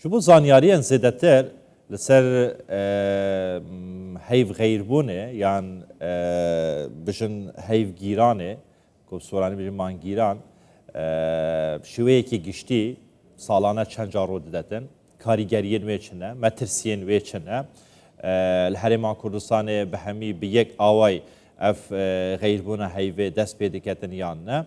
ژ بۆ زانیاریێن زێدەتر لەسەر هەیڤ غەیر بوونێ یان بژن هەیڤ گیرانێ کۆ سۆرانی بژن مانگیران شوەیەکی گشتی ساڵانە چەند جا ڕوو دەدەتن کاریگەریە نوێ چنە مەترسیێن وێ چنە لە هەرێمان کوردستانێ بە هەمی بە یەک ئاوای ئەف غەیربوونە هەیڤێ دەست پێ دەکەتن یان نە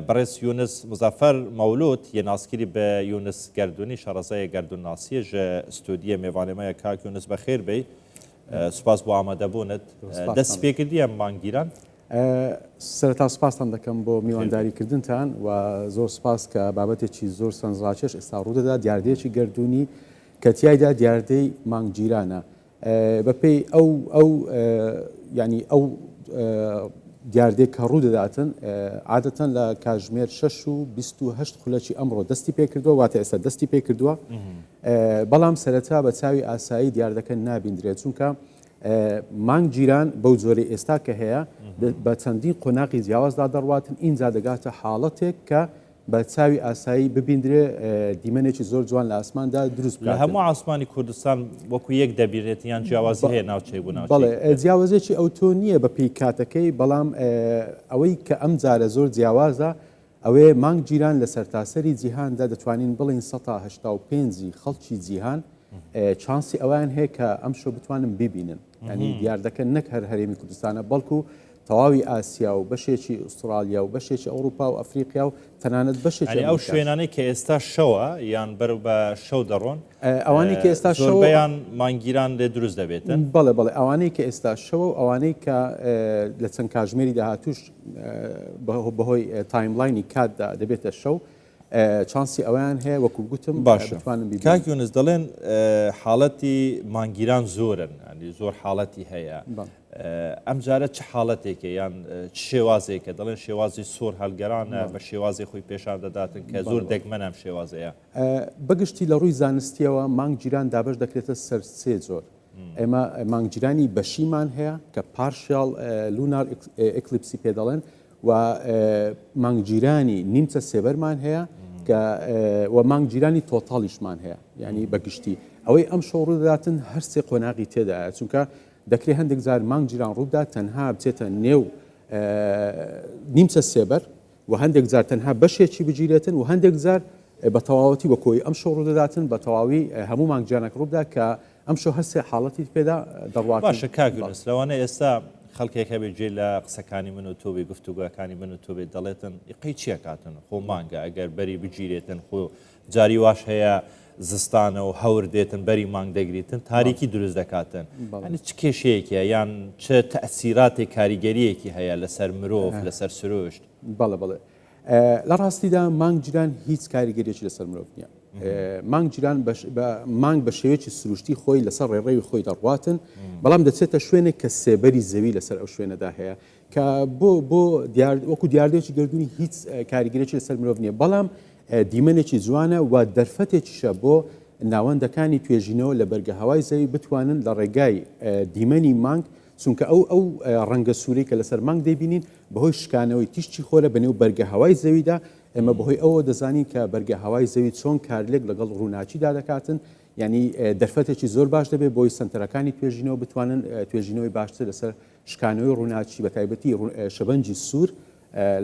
بەڕێز یونس مزەفەر مەولود یە ناسکری بە یونس گەردونی شەڕەزایێ گەردون ناسیە ژە ستۆدیە مێڤانێ مەیە کاک یونس بەخێر بێی سوپاس بۆ ئامادە بونت دەسی پێ کردیە مانگ گیران سەرەتا سوپاستان دەکەم بۆ میوانداری کردنتان و زۆر سوپاس کە بابەتێکی زۆر سەنجڕاکێش ئێستا ڕوودەدا دیاردەیەکی گەردوونی کە تیایدا دیاردەی مانگگیرانە بە پێی ئەو ئەو یانی ئەو دیاردەی کە ڕوو دەداتن عادەتەن لە کاژمێر 6 و 28 خولەکی ئەمڕۆ دەستی پێکردووە واتە ئێستا دەستی پێکردووە بەڵام سەرەتا بە چاوی ئاسایی دیاردەکە نابیندرێت چونکە مانگ جیران بەو جۆری ئێستا کە هەیە بە چەندین قۆناقی جیاوازدا دەڕواتن ئینجا دەگاتە حاڵەتێک کە بە چاوی ئاسایی ببیندرێ دیمەنێکی زۆر جوان لە ئاسماندا دروست بکات. لە هەموو ئاسمانی کوردستان وەکو یەک دەبینرێت یان جیاوازی هەیە ناوچەی بوو ناوچەی. بەڵێ جیاوازێکی ئەوتۆ نییە بە پێی کاتەکەی، بەڵام ئەوەی کە ئەم جارە زۆر جیاوازە ئەوەیە مانگ گیران لە سەرتاسەری جیهاندا دەتوانین بڵێین سەتا هەشتا و پێنج ی خەڵکی جیهان چانسی ئەوەیان هەیە کە ئەمشۆ بتوانن بیبینن یانی دیاردەکە نەک هەر هەرێمی کوردستانە بەڵکو تەواوی ئاسیا و بەشێکی ئوستڕاڵیا و بەشێکی ئەوڕوپا و ئەفریقیا و تەنانەت بەشێکی یانی ئەو ئەمریکاش. شوێنانەی کە ئێستا شەوە یان بەرەو بە شەو دەڕۆن ئەوانەی کە ئێستا شەو زۆربەیان مانگگیران لێ دروست دەبێتن؟ بەڵێ بەڵێ ئەوانەی کە ئێستا شەوە و ئەوانەی کە لە چەند کاژمێری داهاتووش بەهۆی تایملاینی کاتدا دەبێتە شەو چانسی ئەوەیان هەیە وەکو گوتم باشە بتوانن بیبینن. کاک یونس دەڵێن حاڵەتی مانگگیران زۆرن ینی زۆر حاڵەتی هەیە بەڵێ ئەمجارە چ حاڵەتێکە یان چ شێوازێکە دەڵێن شێوازی سۆر هەلگەرانە بە شێوازی خۆی پێشان دەداتن کە زۆر دەگمەن ئەم شێوازەیە بەگشتی لە ڕووی زانستیەوە مانگگیران دابش دەکرێتە سەر سێ جۆر ئێمە مانگگیرانی بەشیمان هەیە کە پارشیاڵ لونار ئکلیپسی پێ دەڵێن و مانگ جیرانی نیمچە سێبەرمان هەیە کە و مانگ جیرانی تۆتاڵیشمان هەیە یعنی بەگشتی ئەوەی ئەم شەو ڕووداتن هەرسێ قۆناغی تێدایە چونکە دەکرێت هەندێک جار مانگ جیران ڕوودا تەنها بچێتە نێو نیمچە سێبەر و هەندێک جار تەنها بەشێکی بگیرێتن و هەندێک جار بە تەواوەتی وەکۆی ئەم شەڕ دەداتن بە تەواوی هەموو مانگجیانەک ڕوودا کە ئەمشۆ هەر سێ حاڵەتیت پێدا دەڕوات. باشە کاک یونس لەوانەیە ئێستا خەڵکێک هەبێت گوێی لە قسەکانی من و تۆ بێ گفتوگۆیەکانی من و تۆ بێت دەڵێتن ئیقەی چییە کاتن خۆ مانگە ئەگەر بەری بگیرێتن خۆ جاری واش هەیە زستانە و هەور دێتن بەری مانگ دەگریتن تاریکی دروست دەکاتن ئەنی چ کێشەیەکە یان چ تەسیراتێک کاریگەریەکی هەیە لەسەر مرۆڤ لەسەر سروشت بەڵێ بڵێ لە ڕاستیدا مانگ جران هیچ کاریگەریەکی لەسەر مرۆڤ نیە مانگ جران مانگ بە شێوەیەکی سروشتی خۆی لەسەر ڕێڕێوی خۆی دەڕواتن بەڵام دەچێتە شوێنێک کە سێبەری زەوی لەسەر ئەو شوێنەدا هەیە کە بۆ بۆ وەکو دیاردێکی گردردونی هیچ کاریگەرێکی لەسەر مرۆڤ نیە بەڵام دیمەنێکی جوانە و دەرفەتێکیشە بۆ ناوەندەکانی توێژینەوە لە بەرگە هەوای زەوی بتوانن لە ڕێگای دیمەنی مانگ چونکە ئەو ئەو ڕەنگە سوورەی کە لەسەر مانگ دەیبینین بەهۆی شکانەوەی تیشکی خۆرە بەنێو بەرگە هەوای زەویدا، ئێمە بەهۆی ئەوەوە دەزانین کە بەرگە هەوای زەوی چۆن کارلێک لەگەڵ ڕووناکیدا دەکاتن، یانی دەرفەتێکی زۆر باش دەبێت بۆی سەنتەرەکانی توێژینەوە بتوانن توێژینەوەی باشتر لەسەر شکانەوەی ڕووناکی بەتایبەتی شەبەنجی سوور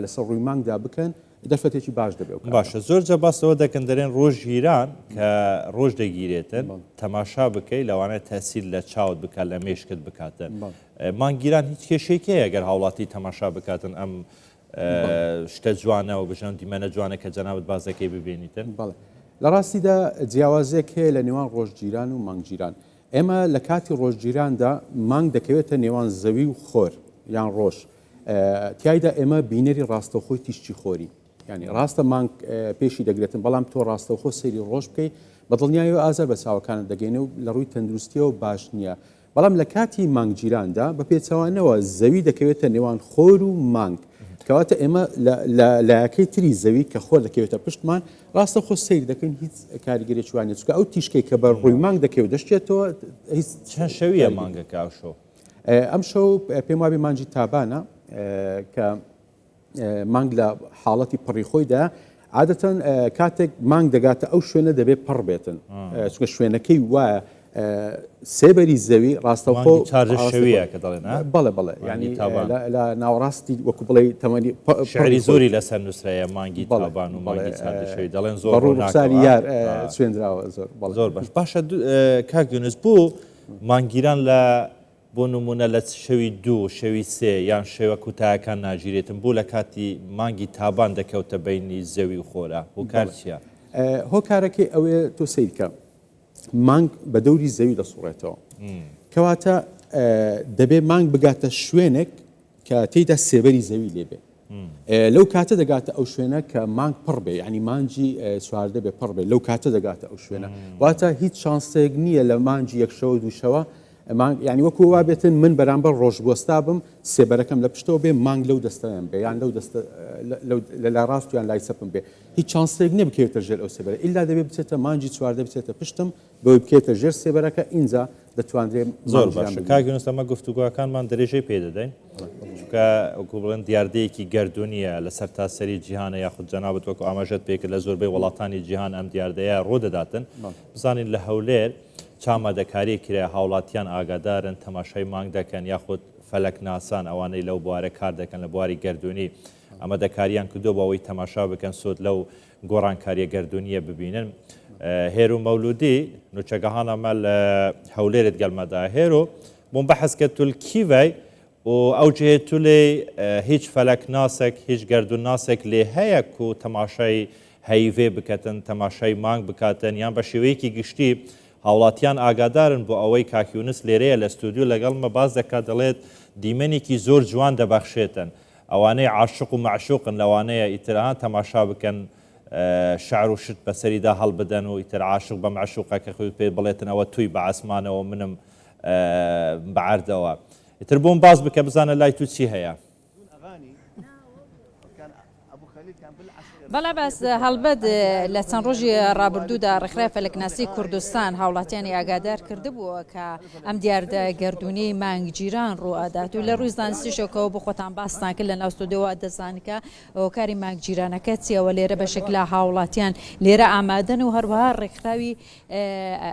لەسەر ڕووی مانگدا بکەن دەرفەتێکی باش دەبێ و باشە زۆر جە باس لەوە دەکەن دەرێن ڕۆژ گیران کە ڕۆژ دەگیرێتن تەماشا بکەی لەوانەیە تەسیل لە چاوت بکات لە مێشکت بکاتن مانگیران هیچ کێشێکەیە گەر هاوڵاتی تەماشا بکاتن ئەم شتە جوانە و بژان دیمەنە جوانە کە جەنابەت بازەکەی ببینیتن بەڵێ لە ڕاستیدا جیاوازێک هەیە لە نێوان ڕۆژگیران و مانگگیران ئێمە لە کاتی ڕۆژگیراندا مانگ دەکەوێتە نێوان زەوی و خۆر یان ڕۆژ تیایدا ئێمە بینەری ڕاستەوخۆی تیشکی خۆری ینی ڕاستە مانگ پێشی دەگرێتن بەڵام تۆ ڕاستەوخۆ سەیری ڕۆژ بکەی بە دڵنیایەوە ئازار بە چاوەکانت دەگەینە و لە ڕووی تەندروستیەوە باش نییە بەڵام لە کاتی مانگگیراندا بە پێچوانەوە زەوی دەکەوێتە نێوان خۆر و مانگ کەواتە ئێمە لایەکەی تری زەوی کە خۆر دەکەوێتە پشتمان ڕاستە خۆ سیر دەکەین هیچ کاریگەری چوانێت چکە ئەو تیشکێک کە بە ڕووی مانگ دەکەوێت دەشتێتەوە هیچ شەویە مانگە کاشۆ ئەمشەو پێم وابێ مانجی تابانە کە مانگ لە حاڵەتی پڕی خۆیدا عادەتەن کاتێک مانگ دەگاتە ئەو شوێنە دەبێت پڕ بێتن چکە شوێنەکەی وایە سێبەری زەوی ڕاستەخۆ چارشەویە کە دەڵێن بەڵێ بەڵێ ینی لە ناوەڕاستی وەکو بڵێ تەمەنی شعری زۆری لەسەر نووسراە مانگی بەڵبان و ماڵی چارشەوی دەڵێن زۆر ڕوونساری یار سوێنراوە زۆر زۆر بەش باشە کاک یونس بوو مانگگیران لە بۆ نموونە لە شەوی دوو، شەوی سێ یان شەوە کوتایەکان ناگیرێتن بۆ لە کاتی مانگی تابان دەکەوتە بەینی زەوی و خۆرا هۆکار چیە؟ هۆکارەکەی ئەوەیە تۆ سەیرکە مانگ بە دەوری زەوی دەسوڕێتەوە کەواتە دەبێ مانگ بگاتە شوێنێک کە تێیدا سێبەری زەوی لێ بێ لەو کاتە دەگاتە ئەو شوێنە کە مانگ پڕ بێ ینی مانجی چواردە بێ پڕ بێ لەو کاتە دەگاتە ئەو شوێنە واتە هیچ چانسێک نییە لە مانجی یەکشەوە دووشەوە مانگ ینی وەکو وا بێتن من بەرامبەر ڕۆژگۆستا بم سێبەرەکەم لە پشتەوە بێ مانگ لەو دەستەیان بێ یان لەو دەستە لە لا ڕاستیان لای سەپم بێ هیچ چانسێک نیە بکەوێتە ژێر ئەو سێبەرە ئللا دەبێ بچێتە مانجی چواردە بچێتە پشتم بۆی بکەیتە ژێر سێبەرەکە ئینجا دەتوانرێ مانگی ژان بگیرێ. زۆر باشە کاک یونس ئەمە گفتوگۆکانمان درێژەی پێ دەدەین چونکە وەکو بڵێن دیاردەیەکی گەردوونیە لە سەرتاسەری جیهانە یاخود جەنابت وەکو ئاماژەت پێ کرد لە زۆربەی وڵاتانی جیهان ئەم دیاردەیە ڕوو دەداتن بزانین لە هەولێر چ ئامادەکارییەک کرایە هاوڵاتیان ئاگادارن تەماشای مانگ دەکەن یاخود فەلەکناسان ئەوانەی لەو بوارە کار دەکەن لە بواری گەردوونی ئامادەکارییان کردووە بۆ ئەوەی تەماشا بکەن سوود لەو گۆڕانکارییە گەردوونییە ببینن. هێرو مەولودی نوچەگەهان ئەمە لە هەولێرت گەلمەدا هێرو بۆم بەحەز کە تول کیڤای و ئەو جێ تولێ هیچ فەلەک ناسێک هیچ گەردون ناسێک لێ هەیە و تەماشای هەیڤێ بکەتن تەماشای مانگ بکاتن یان بە شێوەیەکی گشتی هاوڵاتیان ئاگادارن بۆ ئەوەی کاکیونس لێرەیە لە ستودیو لەگەڵمە باز دەکات دەڵێت دیمەنێکی زۆر جوان دەبەخشێتن ئەوانەی عاشق و مەعشوقن لەوانەیە ئیتر ها تەماشا بکەن شعر و شت بەسەریدا هەڵبدەن و ئیتر عاشق بە مەعشوقەکەخوی پێ بڵێتن ئەوە توی بە عاسمانەوە منم بە عەردەوە ئیتر بۆم باس بکە بزانە لای تو چی هەیە. بەڵێ بەس هەڵبەت لە چەند ڕۆژی ڕابردوودا ڕێکخرای فەلەکناسی کوردستان هاوڵاتیانی ئاگادار کردبووە کە ئەم دیاردە گەردوونیەی مانگ گیران ڕوو ئەدات و لە ڕووی زانستیشەکەوە بۆ خۆتان باستان کرد لە ناو ستۆدیۆوە دەزان کە هۆکاری مانگ گیرانەکە چیە وە لێرە بەشێک لە هاوڵاتیان لێرە ئامادەن و هەروەها ڕێکخراوی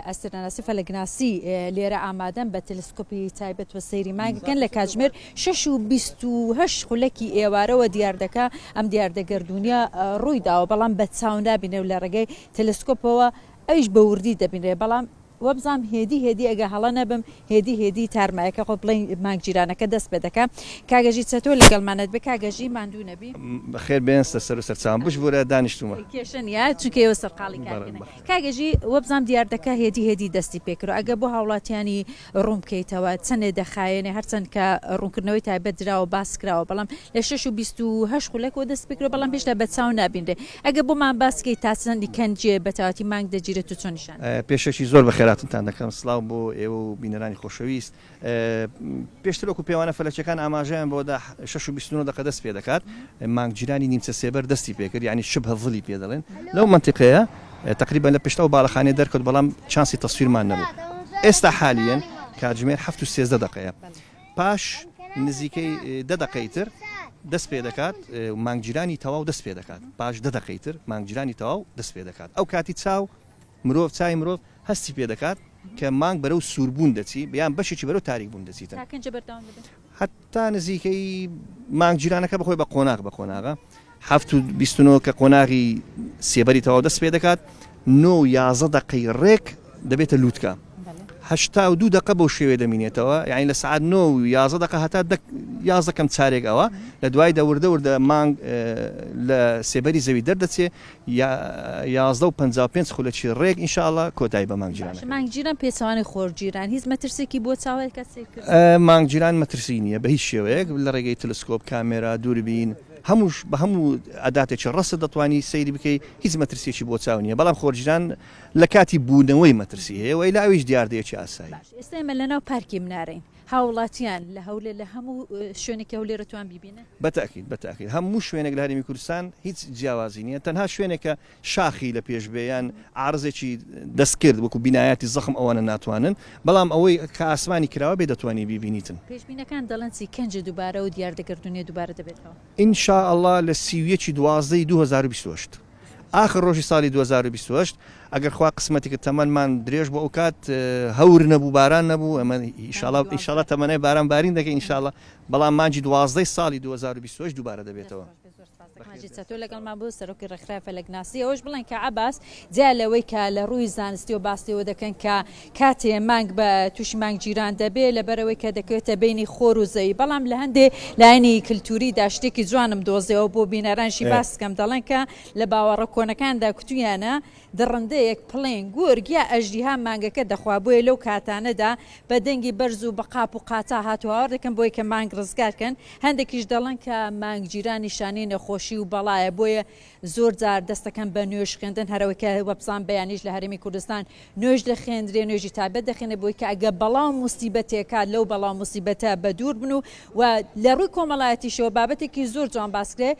ئەستێرەناسی فەلەکناسی لێرە ئامادەن بە تەلسکۆپی تایبەت بە سەیری مانگەکەن لە کاتژمێر 6 و 28 خولەکی ئێوارەوە دیاردەکە ئەم دیاردە گەردوونیە ڕووی داوە بەڵام بە چاو نابینێ و لە ڕێگەی تەلسکۆپەوە ئەویش بە وردی دەبینرێ بەڵام وەبزام هێدی هێدی ئەگە هەڵە نەبم هێدی هێدی تارمایەکە خۆ بڵێ مانگ جیرانەکە دەست پێ دەکە کاگەژی چەتۆ لەگەڵمانەت بێ کاگەژی ماندوو نەبی بەخێر بێنستە سەر و سەرچاوم بشبورە دانیشتومە کێشە نیە چونکە ئێوە سەرقاڵی کارکردنە کاک ئێژی وەبزانم دیاردەکە هێدی هێدی دەستی پێکرد ئەگەر بۆ هاوڵاتیانی ڕوون بکەیتەوە چەندێ دەخایەنێ هەرچەند کە ڕوونکردنەوەی تایبەت دراوە باس کراوە بەڵام لە شەش و بیست و هەشت خولەکەوە دەست پێکرد بەڵام هێشتا بە چاو نابینرێ ئەگەر بۆمان باس کەی تا چەندی کەنجێ بە تاوەتی مانگ دەگیرێت و چۆن نیشان پێشەکی زۆر بەخێراتنتان دەکەم سڵاو بۆ ئێوە و بینەرانی خۆشەویست پێشتر وەکو پێوانە فەلەکیەکان ئاماژەیان بۆدا شش و بیست و نۆ دەقە دەست پێ دەکات مانگگیرانی نیمچە سێبەر دەستی پێکرد یعنی شبه ظلی پێ دەڵێن لەو منتیقەیە تقریبا لە پشتەوە باڵەخانێ دەرکەوت بەڵام چانسی تەسویرمان نەبوو ئێستا حالیەن کاتژمێر هەفت و سێزدە دەقەیە پاش نزیکەی دە دەقەی تر دەست پێ دەکات مانگگیرانی تەواو دەست پێ دەکات پاش دە دەقەی تر مانگگیرانی تەواو دەست پێ دەکات ئەو کاتی چاو مرۆڤ، چاوی مرۆڤ هەستی پێ دەکات کە مانگ بەرەو سووربوون دەچی، یان بەشێکی بەرەو تاریکبوون دەچیتن. تا کەنجە بەردەوام دەبێت. هەتا نزیکەی مانگ جیرانەکە بەخۆی بە قۆناغ بە قۆناغە. هەفت و بیست و نۆ کە قۆناغی سێبەری تەواو دەست پێ دەکات، نۆ و یازدە دەقەی ڕێک دەبێتە لووتکە. هەشتا و دوو دەقە بەو شێوەیە دەمینێتەوە، یانی لە سەعات نۆ و یازدە دەقە هەتا دە یازدە کەم چارێک ئەوە، لە دوایدا وردە وردە مانگ لە سێبەری زەوی دەردەچێ، یازدە و پەنجا و پێنج خولەکی ڕێک ان شاء اللە کۆتایی بە مانگ جیرانەکەین. مانگ جیران پێچەوانەی خۆر جیران هیچ مەترسیەکی بۆ چاوەی کەس سەیرکردن نیە؟ مانگ جیران مەترسی نیە بە هیچ شێوەیەک لە ڕێگەی تلسکۆب، کامێرا، دووربین هەمووش بە هەموو ئەداتێکی ڕەست دەتوانی سەیری بکەی هیچ مەترسیەکی بۆ چاو نیە بەڵام خۆرجیران لە کاتی بوونەوەی مەترسی هەیە وە ئیلا ئەویش دیاردەیەکی ئاسایی. باش ئێستا ئێمە لە ناو پارکی منارەین هاوڵاتیان لە هەولێر لە هەموو شوێنێکی هەولێر ئەتوان بیبینن؟ بە تەئکید بە تەئکید هەموو شوێنێک لە هەرێمی کوردستان هیچ جیاوازی نییە تەنها شوێنێک کە شاخی لە پێش بێ یان عارزێکی دەست کرد وەکو بینایاتی زەخم ئەوانە ناتوانن بەڵام ئەوەی کە ئاسمانی کراوە بێ دەتوانی بیبینیتن. پێشبینەکان دەڵێن چی کەنج دوبارە و دیاردە گەردونیە دوبارە دەبێتەوە؟ ان شاء اللە لە سی و یەک ی دوازدە ی دوو هەزار و بیست و هەشت. ئاخر ڕۆژی ساڵی دوو هەزار و بیست و هەشت ئەگەر خوا قسمەتی کرد تەمەنمان درێژ بوو ئەوکات هەور نەبوو باران نەبوو ئەمە ئیشاڵا ئیشاڵا تەمەنای باران بارین دەکەین ئیشاڵا بەڵام مانجی دوازدەی ساڵی 2020 دووبارە دەبێتەوە تۆ لەگەڵمان بۆ سەرۆکی ڕێکخراوی فەلەکناسی ئەوەش بڵێن کە عباس جیا لەوەی کە لە ڕووی زانستی و باسیەوە دەکەن کە کاتێ مانگ بە تووشی مانگگیران دەبێ لەبەرئەوەی کە دەکەوێتە بەینی خۆر و زەوی بەڵام لە هەندێ لایەنی کلتووریدا شتێکی جوانم دۆزیەوە بۆ بینەرانشی باس بکەم دەڵێن کە لە باوەڕە کۆنەکاندا کوتوویانە دڕندەیەک پڵین، گورگ یا ئەژدیها مانگەکە دەخوا بۆیە لەو کاتانەدا بە دەنگی بەرز و بە قاپ و قاتا هاتوهاوار دەکەن بۆی کە مانگ ڕزگار کەن هەندێکیش دەڵێن کە مانگگیران نیشانەی نەخۆشی و بەڵایە بۆیە زۆر جار دەست دەکەن بە نوێژ خوێندن هەرەوەی کە وەپزان بەیانیش لە هەرێمی کوردستان نوێژ دەخێندرێ نوێژی تابەت دەخێنێ بۆی کە ئەگە بەڵاو موسیبەتێکات لەو بەڵاو موسیبەتە بە دوور بن و و لە ڕووی کۆمەڵایەتیشەوە بابەتێکی زۆر جوان باسکرێ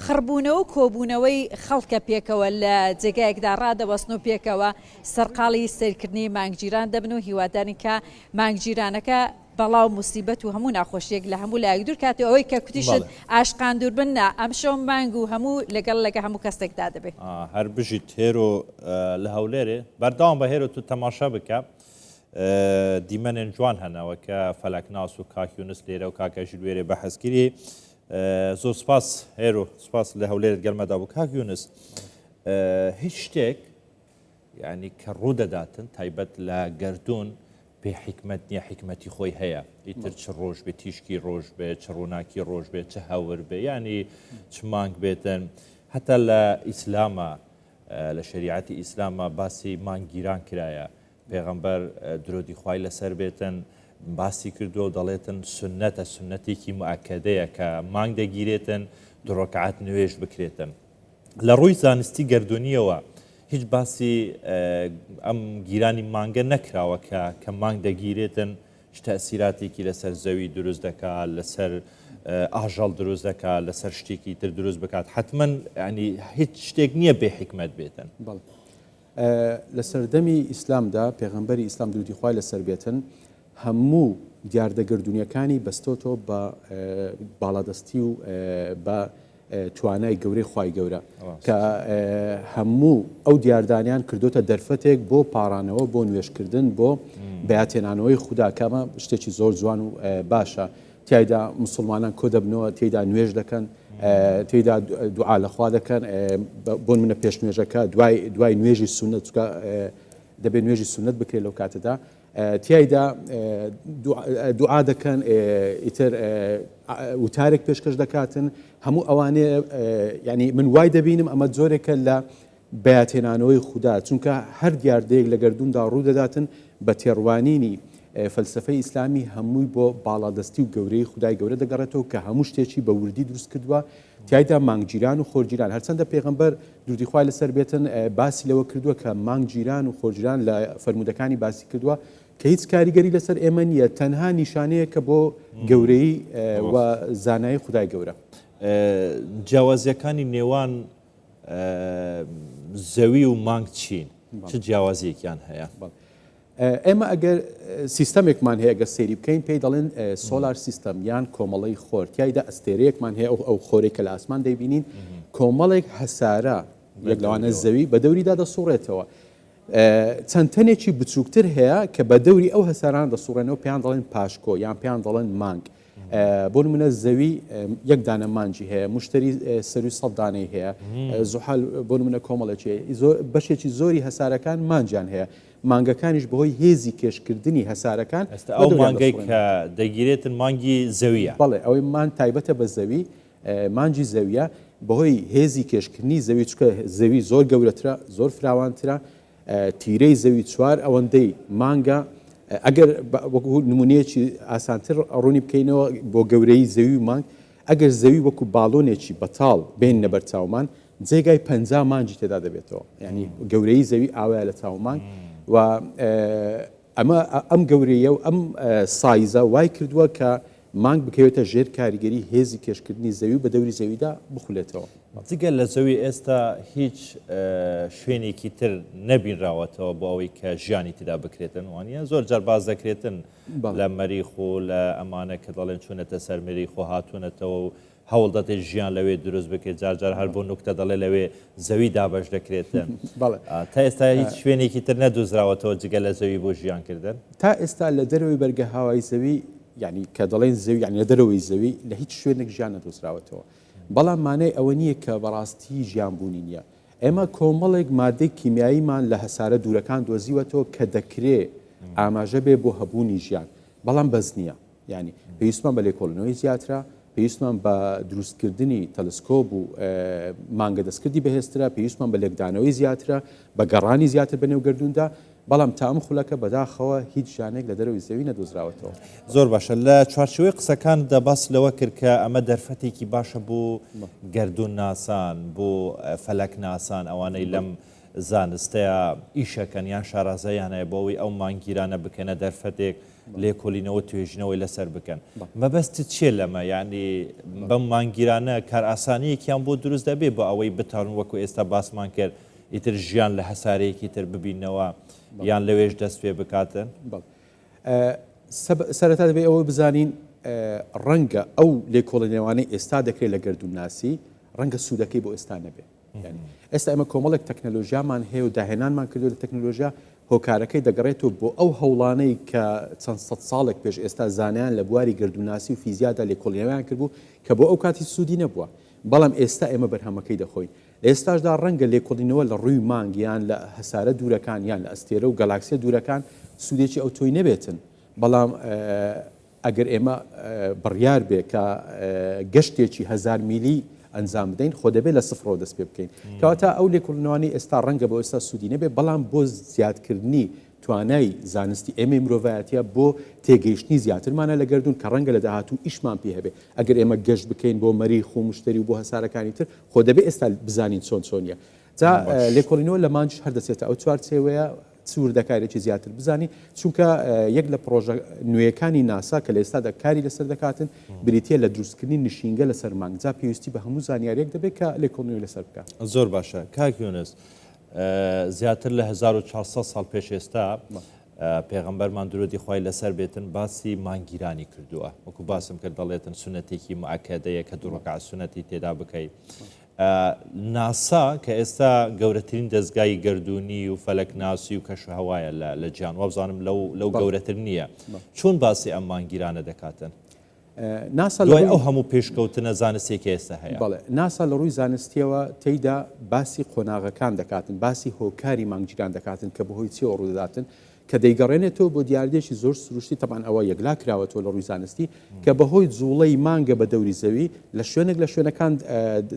خڕبوونەوە و کۆبوونەوەی خەڵکە پێکەوە لە جێگایەکدا ڕادەوەستن و پێکەوە سەرقاڵی سیرکردنی مانگگیران دەبن و هیوادارین کە مانگگیرانەکە بەڵاو موسیبەت و هەموو ناخۆشیەک لە هەموو لایەک دوور کات و ئەوەی کە کوتیشت ئاشقان دوور بن نا ئەمشەو مانگ و هەموو لەگەڵ لەگە هەموو کەسێک دا دەبێ. هەر بژیت هێرۆ لە هەولێرێ. بەردەوام بە هێرۆ تو تەماشا بکە دیمەنێن جوان هەنە وە کە فەلەکناس و کاک یونس لێرە و کاک ئەژیر وێرێ بەحس کریەی زۆر سپاس هێرۆ سپاس لە هەولێرت گەرمەدا بوو کاک یونس هیچ شتێک یانی کە ڕوو دەداتن تایبەت لە گەردوون پێ حیکمەت نیە حیکمەتی خۆی هەیە ئیتر چ ڕۆژ بێ تیشکی ڕۆژ بێ چ ڕووناکی ڕۆژ بێ چ هەور بێ یانی چ مانگ بێتن هەتا لە ئیسلامە لە شریعەتی ئیسلامە باسی مانگگیران کرایە پێغەمبەر درۆدی خوای لەسەر بێتن باسی کردووە و دەڵێتن سنەتە سنەتێکی مؤکدەیە کە مانگ دەگیرێتن دڕۆکعات نوێش بکرێتن لە ڕووی زانستی گەردوونییەوە هیچ باسی ئەم گیرانی مانگە نەکراوە کە کە مانگ دەگیرێتن چ تەسیراتێکی لەسەر زەوی دروست دەکا لەسەر ئاژەڵ دروست دەکا لەسەر شتێکی تر دروست بکات حتمما ینی هیچ شتێک نییە بێ حکمت بێتن لە سەردەمی ئیسلامدا، پێغەمبەری ئیسلام درودی خوای لەسەر بێتن هەموو دیاردە گەردونیەکانی بەستۆتەوە بە باڵادەستی و بە توانای گەورەی خوای گەورە کە هەموو ئەو دیاردانیان کردوتە دەرفەتێک بۆ پارانەوە بۆ نوێشکردن بۆ بەاتێنانەوەی خوددا کەمە شتێکی زۆر جوان و باشە تیایدا مسوڵمانان کۆدەبنەوە تێدا نوێژ دەکەن تێدا دوعا لەخوا دەکەن بۆ منە پێش نوێژەکە دوای دوای نوێژی سونە چکە دەبێت نوێژی سونەت بکرێت لەو کاتەدا تایدا دوعا دەکەن ئیتر وتارێک پێشکەش دەکاتن هەموو ئەوانێ ینی من وای دەبینم ئەمە جۆرێکە لە بەیادهێنانەوەی خودا، چونکە هەر دیاردەیەک لە گەردووندا ڕوو دەداتن، بە تێڕوانینی فەلسەفەی ئیسلامی هەمووی بۆ باڵادەستی و گەورەیی خودای گەورە دەگەڕێتەوە کە هەموو شتێکی بە وردی دروست کردووە، تیایدا مانگگیران و خۆرگیران، هەرچەندە پێغەمبەر، دروودی خوای لەسەر بێتن، باسی لەوە کردووە کە مانگگیران و خۆرگیران لە فەرموودەکانی باسی کردووە کە هیچ کاریگەری لەسەر ئێمە نییە، تەنها نیشانەیەکە بۆ گەورەیی و زانایی خودای گەورە. جیاوازییەکانی نێوان زەوی و مانگ چین چ جیاوازیەکیان هەیە ئێمە ئەگەر سیستەمێکمان هەیە گە سێری بکەین پێی دەڵێن سۆلار سیستەم یان کۆمەڵی خۆر تایدا ئەستێرەیەکمان هەیە ئەو خۆرێک کە لە ئاسمان دەبینین کۆمەڵێک هەسارە یەک لەوانە زەوی بە دەوریدا دەسوڕێتەوە چەند تەنێکی بچووکتر هەیە کە بە دەوری ئەو هەساران دەسوڕێنەوە پێیان دەڵێن پاشکۆ یان پێیان دەڵێن مانگ بۆ نمونە زەوی یەک دانە مانجی هەیە مشتری سەروی سەد دانەی هەیە زحال بۆ نمونە کۆمەڵێکی بەشێکی زۆری هەسارەکان مانجیان هەیە مانگەکانیش بەهۆی هێزی کێشکردنی هەسارەکان ئەستا ئەو مانگەی کە دەگیرێتن مانگی زەویە بەڵێ ئەوەی مان تایبەتە بە زەوی مانجی زەویە بەهۆی هێزی کێشکردنی زەوی چکە زەوی زۆر گەورەترە زۆر فراوانترە تیرەی زەوی چوار ئەوەندەی مانگە، ئەگەر وەکو نمونەیەکی ئاسانتر ڕوونی بکەینەوە بۆ گەورەیی زەوی و مانگ، ئەگەر زەوی وەکو باڵۆنێکی بەتاڵ بێننە بەر چاومان جێگای پەنجا مانگی تێدا دەبێتەوە، یانی گەورەیی زەوی ئاوایە لە چاو مانگ و ئەمە ئەم گەورەیی و ئەم سایزە وای کردووە کە مانگ بکەوێتە ژێر کاریگەری هێزی کێشکردنی زەوی و بە دەوری زەویدا بخولێتەوە. جگە لە زەوی ئێستا هیچ شوێنێکی تر نەبینراوەتەوە بۆ ئەوەی کە ژیانی تیدا بکرێتن وانە زۆر جار باس دەکرێتن لە مەریخ و لە ئەمانە کە دەڵێن چونەتە سەر مریخ و هاتونەتەوە و هەوڵ دەدەیت ژیان لەوێ دروست بکەیت، جار جار هەر بۆ نوکتە دەڵێت لەوێ زەوی دابەش دەکرێت. تا ئێستا هیچ شوێنێکی تر نەدۆزراوەتەوە جگە لە زەوی بۆ ژیان کردن؟ تا ئێستا لە دەرەوەی بەرگە هاوای زەوی، یانی کە دەڵێین زەوی یانی لە دەرەوەی زەوی، لە هیچ شوێنێک ژیان نەدۆزراوەتەوە. بەڵام مانای ئەوە نییە کە بەڕاستی ژیان بوونی نییە. ئێمە کۆمەڵێک ماددەی کیمیاییمان لە هەسارە دوورەکان دۆزیوەتەوە کە دەکرێ ئاماژە بێ بۆ هەبوونی ژیان، بەڵام بەس نییە. یانی پێویستمان بە لێکۆڵینەوەی زیاترە، پێویستمان بە دروستکردنی تەلسکۆب و مانگە دەستکردی بەهێزترە، پێویستمان بە لێکدانەوەی زیاترە، بە گەڕانی زیاتر بەنێو گەردووندا، بەڵام تا ئەم خولەکە بەداخەوە هیچ ژانێک لە دەرەوەی زەوی نەدۆزراوەتەوە. زۆر باشە، لە چوارچێوەی قسەکانتدا باست لەوە کرد کە ئەمە دەرفەتێکی باشە بۆ گەردوونناسان، بۆ فەلەکناسان، ئەوانەی لەم زانستەیە ئیشەکەن یان شارازاییان هەیە بۆ ئەوەی ئەو مانگگیرانە بکەنە دەرفەتێک، لێکۆلینەوە توێژینەوەی لەسەر بکەن مەبەستت چیە لەمە یانی بەم مانگگیرانە کارئاسانیەکیان بۆ دروست دەبێ بۆ ئەوەی بتوانن وەکو ئێستا باسمان کرد ئیتر ژیان لە هەسارەیەکی تر ببینەوە یان لەوێش دەست پێ بکاتن سەرەتا دەبێت ئەوە بزانین ڕەنگە ئەو لێکۆڵێنێوانەی ئێستا دەکرێت لە گردونناسی ڕەنگە سوودەکەی بۆ ئێستا نەبێت یانی ئێستا ئێمە کۆمەڵێک تەکنەلۆژیامان هەیە و داهێنانمان کردو لە تەکنەلۆژیا هۆکارەکەی دەگەڕێتەوە بۆ ئەو هەوڵانەی کە چەند سەد ساڵێک پێش ئێستا زانایان لە بواری گردوناسی و فیزیادا لێکۆڵینەوەیان کردبوو کە بۆ ئەو کاتی سوودی نەبووە بەڵام ئێستا ئێمە بەرهەمەکەی دەخۆین لە ئێستاشدا ڕەنگە لێکۆڵینەوە لە ڕووی مانگ یان لە هەسارە دوورەکان یان لە ئەستێرە و گەلاکسیە دوورەکان سوودێکی ئەو تۆی نەبێتن بەڵام ئەگەر ئێمە بڕیار بێ کە گەشتێکی هەزار میلی ئەنجام بدەین خۆ دەبێت لە سفرەوە دەست پێ بکەین کەواتە ئەو لێکوڵنەوانی ئێستا ڕەنگە بۆ ئێستا سوودی نەبێ بەڵام بۆ زیادکردنی توانای زانستی ئێمەی مرۆڤایەتە بۆ تێگەیشتنی زیاترمانە لە گردون کە ڕەنگە لە داهاتوو ئیشمان پێ هەبێ ئەگەر ئێمە گەشت بکەین بۆ مەریخ و مشتری و بۆ هەسارەکانی تر خۆ دەبێ ئێستا بزانین چۆن چۆنیە جا لێکۆڵینەوە لە مانچ هەردەچێتە ئەو چوارچێوەیە چ وردەکاریەکی زیاتر بزانی چونکە یەک لە پرۆژە نوێیەکانی ناسا کە لە ئێستادا کاری لەسەر دەکاتن بریتە لە دروستکردنی نشینگە لەسەر مانگ جا پێویستی بە هەموو زانیاریەک دەبێت کە لە کۆنوی لەسەر بکە زۆر باشە کاک یۆنس زیاتر لە 1400 ساڵ پێش ئێستا پێغمبەرمان درۆدی خی لەسەر بێتن باسی مانگیرانی کردووە وەکو باسم کرد دەڵێتن سونەتێکی مەکەدەیە کە دوڕکە سونەتی تێدا بکەیت ناسا کە ئێستا گەورەترین دەزگای گەردوونی و فەلەکناسی و کەشوهەوایە لە جیهان، وابزانم لەو گەورەتر نییە، چۆن باسی ئەم مانگگیرانە دەکاتن؟ ناسا لە ڕووی ئەو هەموو پێشکەوتنە زانستییە کە ئێستا هەیە. بەڵێ، ناسا لە ڕووی زانستییەوە تێیدا باسی قۆناغەکان دەکاتن، باسی هۆکاری مانگگیران دەکاتن کە بەهۆی چییەوە ڕوودەداتن، کە دەیگەڕێنێتەوە بۆ دیاردەیەکی زۆر سروشتی، تەبعەن ئەوە یەکلا کراوەتەوە لە ڕووی زانستی، کە بە هۆی جووڵەی مانگە بە دەوری زەوی، لە شوێنێک لە شوێنەکان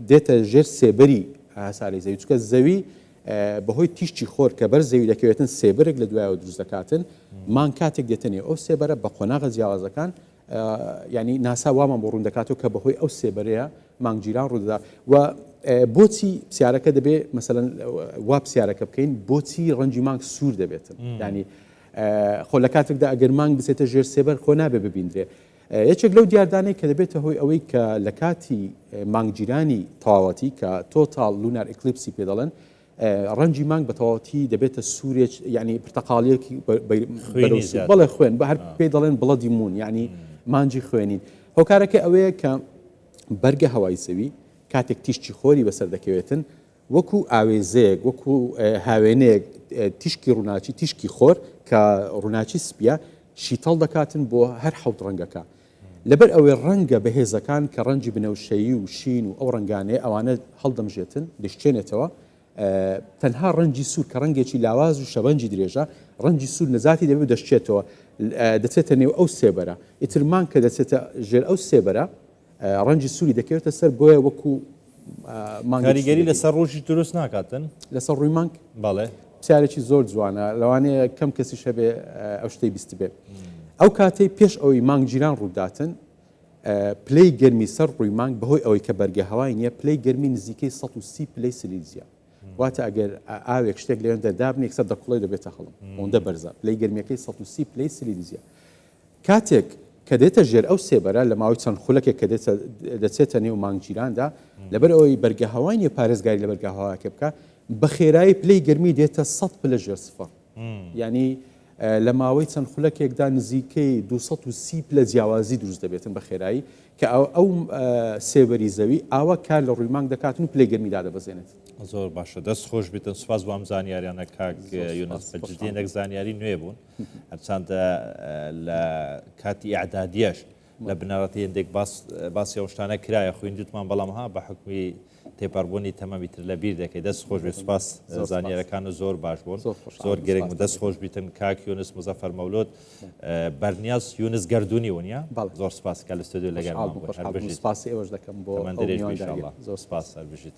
دێتە ژێر سێبەری هەسارەی زەوی، چونکە زەوی بە هۆی تیشکی خۆر کە بەر زەوی دەکەوێتن سێبەرێک لە دوایەوە دروست دەکاتن، مانگ کاتێک دێتە نێو ئەو سێبەرە بە قۆناغە جیاوازەکان، یانی ناسا وامان بۆ ڕوندەکاتەوە کە بەهۆی ئەو سێبەرەیە مانگ گیران ڕوودەدا و بۆچی پرسیارەکە دەبێ مەسەن وا پرسیارەکە بکەین بۆچی ڕەنجی مانگ سوور دەبێتن ینی خۆ لە کاتێکدا ئەگەر مانگ بچێتە ژێر سێبەر خۆ نابێ ببیندرێ یەکێک لەو دیاردانەی کە دەبێتە هۆی ئەوەی کە لە کاتی مانگگیرانی تەواوەتی کە تۆتاال لونار ئەکلیپسی پێ دەڵێن ڕەنگی مانگ بەتەواوەتی دەبێتە سورێک یعنی پرتەقاڵیەک بەڵێ خوێن بە هەر پێی دەڵێن بڵەدی مون یعنی مانجی خوێنین هۆکارەکە ئەوەیە کە بەرگە هەوای زەوی کاتێک تیشکی خۆری بەسەر دەکەوێتن وەکو ئاوێزەیەک وەکو هاوێنەیەک تیشکی ڕووناچی تیشکی خۆر کە ڕووناچی سپیە شیتەڵ دەکاتن بۆ هەر حەوت ڕەنگەکە لەبەر ئەوەی ڕەنگە بەهێزەکان کە ڕەنگی بنەوشەیی و شین و ئەو ڕەنگانەیە ئەوانە هەڵدەمژێتن، دەیشکێنێتەوە. تەنها ڕەنگی سوور کە ڕەنگێکی لاواز و شەبەنگی درێژە، ڕەنگی سوور نەجاتی دەبێت و دەشکێتەوە، دەچێتە نێو ئەو سێبەرە. ئیتر مانگ کە دەچێتە ژێر ئەو سێبەرە، ڕەنگی سووری دەکەوێتە سەر، بۆیە وەکو مانگێکی کاریگەری دەبێت. لەسەر ڕووشی دروست ناکاتن؟ لەسەر ڕووی مانگ؟ بەڵێ. پرسیارێکی زۆر جوانە، لەوانەیە کەم کەسیش هەبێ ئەو شتەی بیستبێ. ئەو کاتەی پێش ئەوەی مانگگیران ڕووبداتن، پلەی گەرمی سەر ڕووی مانگ بەهۆی ئەوەی کە بەرگە هەوای نییە، پلەی گەرمی نزیکەی سەد و سی پلەی سیلیزیە. واتە ئەگەر ئاوێک شتێک لەوێندە دابنێی یەکسەر دەکوڵێ و دەبێتە هەڵم. ئەوەندە بەرزە. پلەی گەرمییەکەی سەد و سی پلەی سیلیزیە. کاتێک کە دێتە ژێر ئەو سێبەرە لە ماوەی چەند خولەکێک کە دێتە دەچێتە نێو مانگگیراندا لەبەر ئەوەی بەرگەهەوای نییە پارێزگاری لە بەرگەهەواکێ بکە بە خێرایی پلەی گەرمی دێتە سەد پلە ژێر سفر ینی لە ماوەی چەند خولەکێکدا نزیکەی 230 پلە جیاوازی دروست دەبێتن بە خێرایی کە ئەو ئەو سێبەری زەوی ئاوا کار لە ڕووی مانگ دەکاتن و پلەی گەرمی دادەبەزێنێت زۆر باشە دەست خۆش بێتن سوپاس بۆ ئەم زانیاریانە کاک یونس بەجدی نەک زانیاری نوێ بوون هەرچەندە لە کاتی ئیعدادیەش لە بنەڕەتی هەندێک باسی ئەو شتانە کرایە خویندوتمان بەڵام ها بە حکومی تێپەڕبوونی تەمەمی تر لە بیر دەکەی دەست خۆش بێ سوپاس زانیارەکان و زۆر باش بوون زۆر گرنگ و دەست خۆش بیتن کاک یونس مزەفەر مەولود بەرنیاز یونس گردردونی ونیە زۆر سپاس کە لە ستۆدیو لەگەر سپاسی ئێوەش دەکەم بۆ زۆر سپاس سەر بژیت.